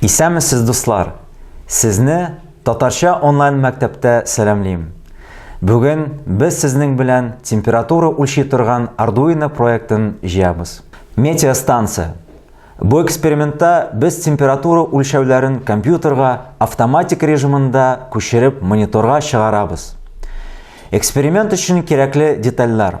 Исәнмесез дуслар! Сезне Татарча онлайн мәктәптә сәламлим! Бүген без сезнең белән температура үлчи торган Arduino проектын җыябыз. Метеостанция. Бу экспериментта без температура үлчәүләрен компьютерга автоматик режимында күчереп мониторга чыгарабыз. Эксперимент өчен кирәкле детальләр,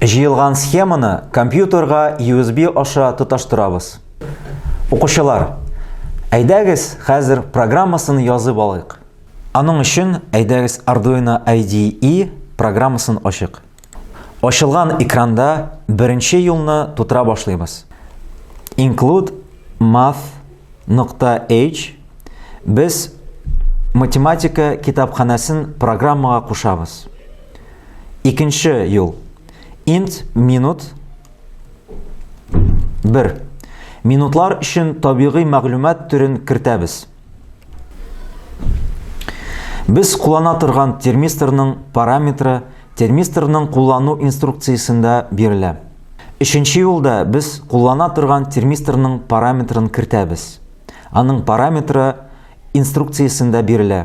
Җыелган схеманы компьютерга USB аша тоташтырабыз. Укучылар, әйдәгез хәзер программасын язып алыйк. Аның өчен әйдәгез Arduino IDE программасын ачык. Ачылган экранда беренче юлны тутыра башлыйбыз. Include math.h без математика китапханәсен программага кушабыз. Икенче юл. Int минут 1. Минутлар өчен табигый мәгълүмат төрен кертәбез. Без куллана торган термисторның параметры термисторның куллану инструкциясендә бирелә. Өченче юлда без куллана торган термисторның параметрын кертәбез. Аның параметры инструкциясендә бирелә.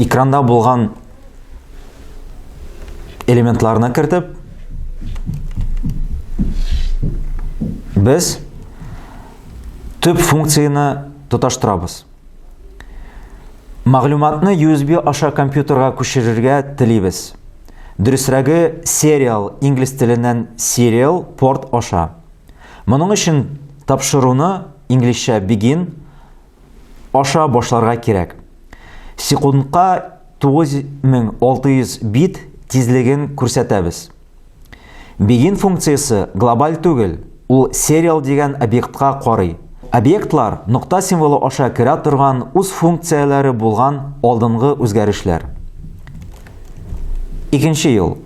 Экранда булган элементларына кертеп без төп функцияне тоташтырабыз. Мәгълүматны USB аша компьютерга күчерергә телибез. Дөресрәге serial инглиз теленнән serial порт аша. Моның өчен тапшыруны инглизчә begin аша башларга кирәк. Секундка 9600 бит тизлеген күрсәтәбез. Begin функциясе глобаль түгел, ул serial дигән объектка карый. Объектлар нокта символы аша керә торган үз функцияләре булган алдынгы үзгәрешләр. Икенче ел.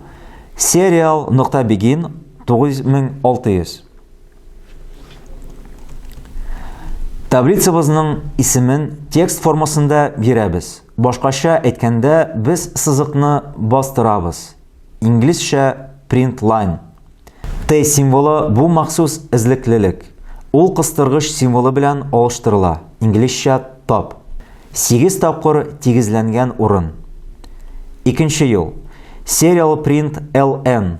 Serial нокта begin 9600. Таблицабызның исемен текст формасында бирәбез. Башкача әйткәндә, без сызыкны бастырабыз. Инглизчә print line. Т символы бу махсус эзлеклелек. Ул кыстыргыч символы белән алыштырыла. Инглизчә tab. 8 тапкыр тигезләнгән урын. Икенче юл. Serial print ln.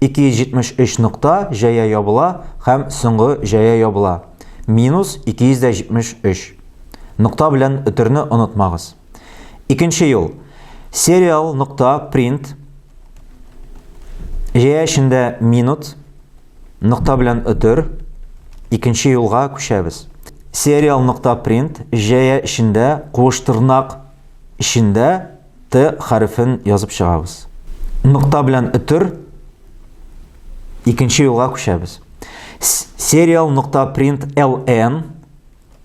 273 нокта җәя ябыла һәм соңгы җәя ябыла. Минус 273. Нокта белән өтерне онытмагыз. Икенче юл. Serial нокта print җәя эчендә минут нокта белән өтер. Икенче юлга күчәбез. Serial нокта print җәя эчендә куыш тырнак эчендә Т хәрефен язып чыгабыз. Нокта белән өтер икенче юлга күчәбез. Serial нокта print ln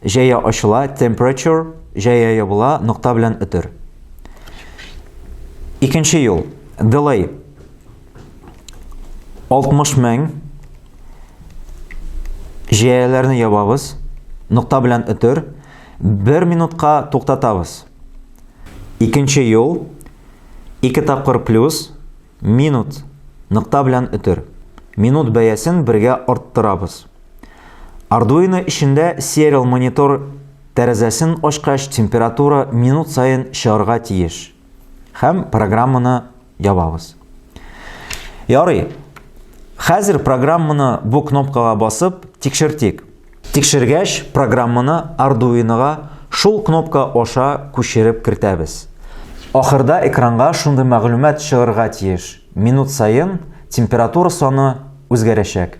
җәя ачыла, temperature җәя ябыла, нокта белән өтер. Икенче юл, delay 60 мең җәяләрне ябабыз, нокта белән өтер, 1 минутка туктатабыз. Икенче юл, ике тапкыр плюс, минут, нокта белән өтер. Минут бәясен бергә арттырабыз. Arduino эчендә serial монитор тәрәзәсен ачкач температура минут саен чыгарга тиеш. Хәм программаны ябабыз. Ярый. Хәзер программаны бу кнопкага басып тикшертик. Тикшергәч, программаны Arduino-га шул кнопка аша күчереп кертәбез. Ахырда экранга шундый мәгълүмат чыгырга тиеш, минут саен температура саны үзгәрәчәк.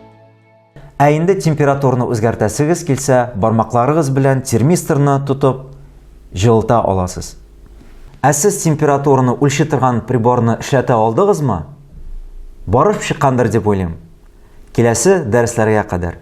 Ә инде температураны үзгәртәсегез килсә, бармакларыгыз белән термисторны тотып, җылыта аласыз. Ә сез температураны үлчи торган приборны эшләтә алдыгызмы? Барып чыккандыр дип уйлыйм. Киләсе дәресләргә кадәр.